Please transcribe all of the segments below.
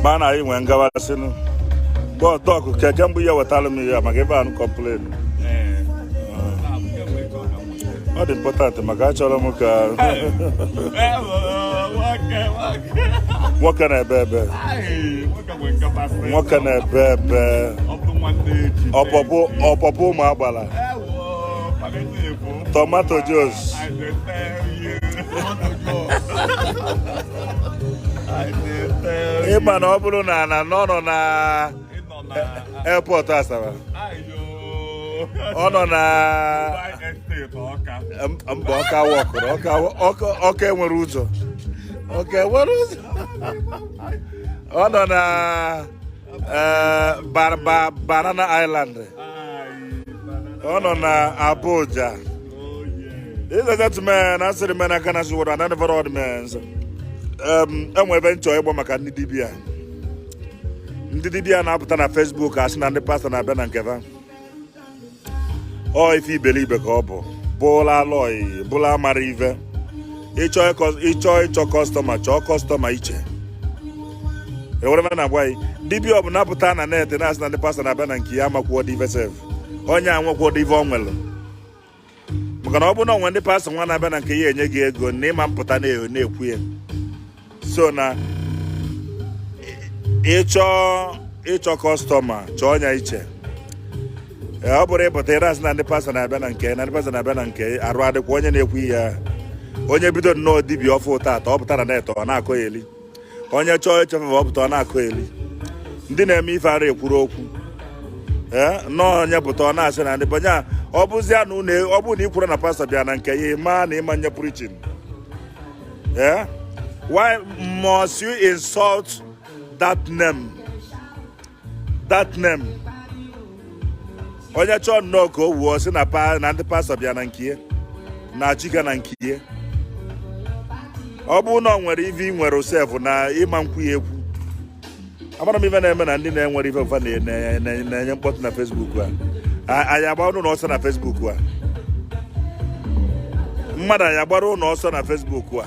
mana anyị nwee ngawasịnụ bọtọk keke mbụ ya wetara m ya maka ebe anụ complain ọ dị important maka achọrọ m ka nwoke na-ebe ebe nwoke na-ebe ebe ọpọpụ ọpọpụ ụmụ agbala tomato Jos ịma na ọ bụrụ na na nọ nọ na airport Asaba ọ nọ na mba ọka wọkụrụ ọka enwere ụzọ ọka enwere ụzọ ọ nọ na Eh, ba ba Banana Island. Ọ nọ na Abuja. These are that men, asịrị men aka na siworo and never odd men. Enwe ive m chọ ịgba maka ndị dibia. Ndị dibia na-apụta na Facebook asị na ndị pastọ na-abịa na nke ha. ọ ife iberibe ka ọ bụ bụla alọị bụla amara ive ị chọọ ịchọ customer chọọ customer iche ewere m na-agwa gị dibia ọbụla pụta na net na-asị na ndị pastọ na-abịa na nke ya amakwuodị ife sef onye a enwekwuodị ife o nwere maka na ọ bụ na o nwe ndị pastọ nwa na-abịa na nke ya enye gị ego na ịma mpụta na-ekwu ya so na ị chọọ ịchọ customer chọọ ya iche ọ bụrọ ịpụta ị na-asị na ndị pastọ na-abịa na nke na ndị pastọ na-abịa na nke arụ adịkwa onye na-ekwu ihe onye bido nnọọ dibia ọfụ tata ọ pụta na net ọ na-akọyeli onye chọọ ị show off ọ pụta ọ na-akọyeri ndị na-eme ife ara ekwuru okwu ee nnọọ onye pụta ọ na-asị na ndị banye ọ bụzia na unu ọ bụrụ na ị kwuru na pastọ bịa na nke ya ịma na ịma nye preaching ee why must you insult that name that name onye chọọ nnọọ ka o wuo ọ sị na na ndị pastọ bịa na nke ya na chiga na nke ya ọ bụrụ na o nwere ive ị nwere osef na ịma nkwu ya ekwu amara m ife na-eme na ndị na-enwerọ ife fa na-enye mkpọtụ na Facebook a anyị agbara unu ọsọ na Facebook a mmadụ anyị agbara unu ọsọ na Facebook a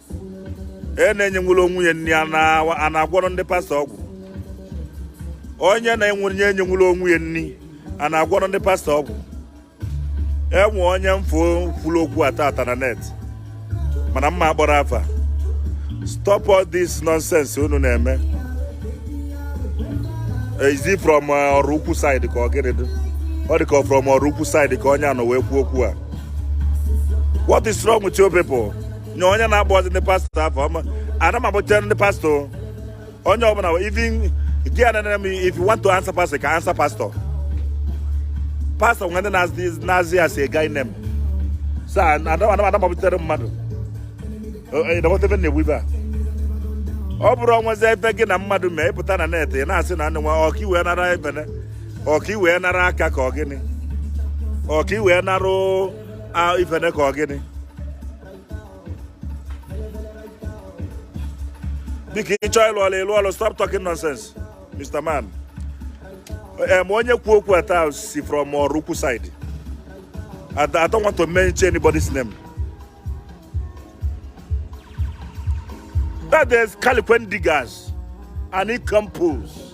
e na-enyenwurọ onwe ya nri a na-agwọrọ ndị pastọ ọgwụ onye na-enwere nye enyenwurọ onwe ya nri a na-agwọrọ ndị pastọ ọgwụ enwe onye m fụ kwuru okwu a tata na net mana m ma akpọrọ afa stop all this nonsense unu na-eme is it from uh, Oraukwu side ka Ogidi ọ dị ka from Oraukwu side ka onye a nọ wee kwuo okwu a what is wrong with you people nye onye na-agbazi ndị pastọ afọ ọma ana m agbachere ndị pastọ onye ọbụla even gị a na-enere m if you want to answer pastor can answer pastor pastọ nwe ndị na-aza ya as a guy name so ana m agbachere mmadụ ịdọkọtebe e, e, na-egbu ife a ọ bụrụ o nwezi ebe gị na mmadụ mee ị pụta na net ị na-asị na nwa ọka iwe nara ebene ọka iwe nara aka ka ọ gịnị ọka iwe narụ a ifene ka ọ gịnị biko ị chọọ ịlụ ọlụ ịlụ ọlụ stop talking nonsense Mr. Man em onye kwu okwu a taa si from Oraukwu side I don't want to mention anybody's name that is California diggers and nincompoops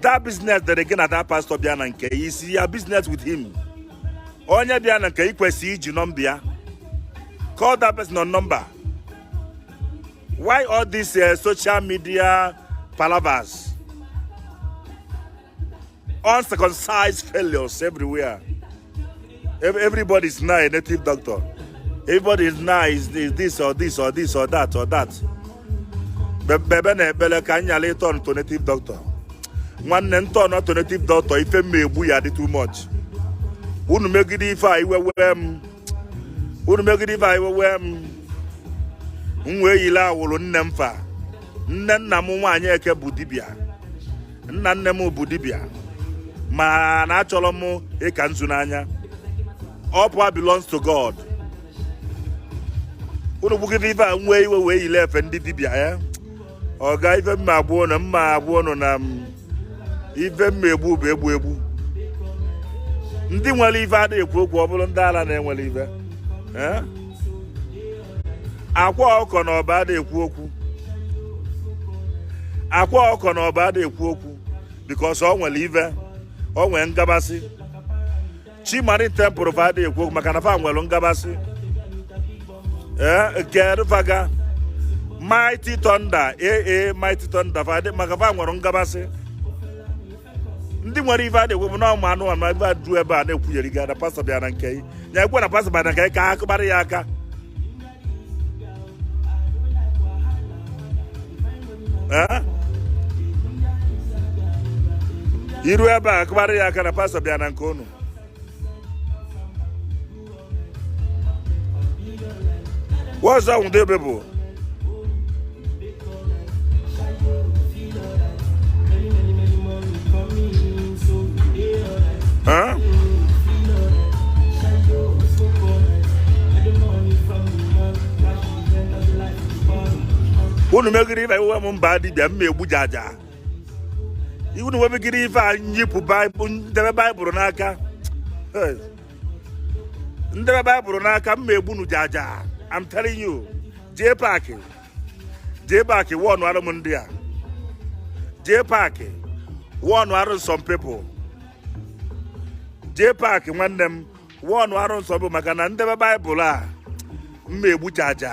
that business that again at that pastor bịa na nke you see your business with him onye bịa na nke i kwesị iji nọmba ya call that person on number why all these uh, social media palavers uncircumcised failures everywhere everybody is now a native doctor everybody is now is this or this or this or that or that bebe na ekpele ka anyị nyala ị turn to native doctor nwanne m turn to native doctor ife m ma-egbu ya-adị too much unu megide ife a iwe wee m unu megide ife a iwe wee m m wee yile awụrụ nne m fa nne nna m nwaanyị eke bụ dibịa nna nne m bụ dibịa mana achọrọ m ịka nzu n'anya all power belongs to God unu gbugide ife a m wee iwe wee yile efe ndị dibịa ya eh? ọ ga ife m ma-agwa unu m ma-agwa unu na ife m ma-egbu bụ egbu egbu ndị nwere ife ada ekwu okwu ọ bụrọ ndị ala na-enwerọ ife eh? Akwa Ọkụkọ na Ọba ada ekwu okwu Akwa Ọkụkọ na Ọba ada ekwu okwu because ọ nwere ive ọ nwere ngabasị Chi Marine Temple fa ada ekwu okwu maka na fa nwere ngabasị ee nke faga mighty thunder ee mighty thunder fa maka fa nwere ngabasị ndị nwere ife ada ekwu bụ na ụmụ anụ anụ ebe a du ebe a na-ekwunyere gị na pastọ bịa na nke ya ekwe na pastọ bịa na nke ka a kụbara ya aka i ru ebe a kụbara ya aka na pastọ bịa na nke unu What's wrong with you people? Huh? unu megide ife iwe m m baa dibịa m ma egbu jaja unu webegide ife a nyipụ m debe baịbụl n'aka m debe baịbụl n'aka m ma egbu unu jaja I'm telling you jee paakị jee paakị wọnụ arụ m ndị a jee paakị wọnụ arụ some people jee paakị nwanne m wọnụ arụ some people maka na m debe baịbụl a m ma egbu jaja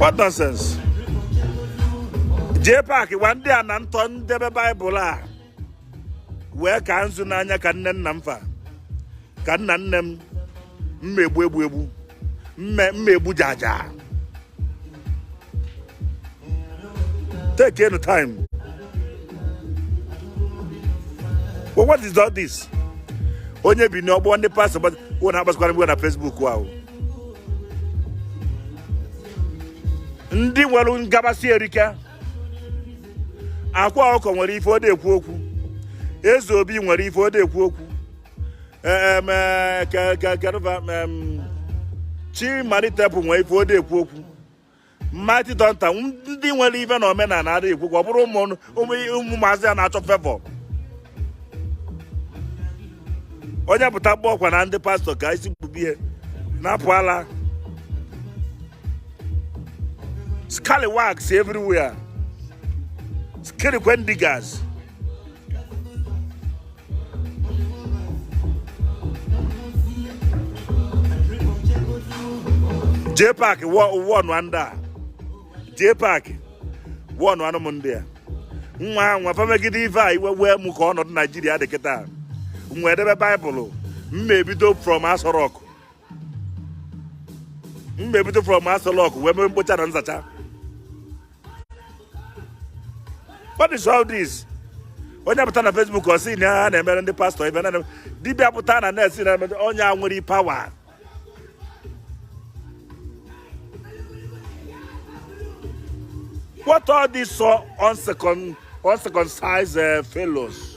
What nonsense? jee paakị gwa ndị a na ntọ m debe baịbụl a wee kaa nzu n'anya ka nne nna m fa ka nna nne m m ma egbu egbu egbu m ma egbu jaja take any time but what is all this onye bi n'ọgbọ ndị pastọ wụ na-agbasakwara mgbe na Facebook ahụ ndị nwere ngabasị erike Akwa Ọkụkọ nwere ife o ji ekwu okwu Eze Obi nwere ife o ji ekwu okwu Chi Marine Temple nwere ife o ji ekwu okwu Mighty Thunder ndị nwere ife na omenala ha ji ekwu okwu ọ bụrụ ụmụazị a na-achọ fevọ onye pụta gba ọkwa na ndị pastọ ka isi gbube ihe na-apụ ala scallywags everywhere skirikwe ndigas jee paakị wọnụ ndị a jee paakị wọnụ anụ m ndị a nwa nwa fa megide ife a iwe wee mụ ka ọnọdụ naijiria dị kịta m wee debe baịbụlụ m ma ebido from Aso Rock m ma ebido from Aso Rock wee mee mkpocha na nzacha what is all this onye pụta na Facebook ọ sị na ha na-emere ndị pastọ ibe na dibịa pụta na na-esi na onye a nwere pawa what are these so uncircumcised uh, fellows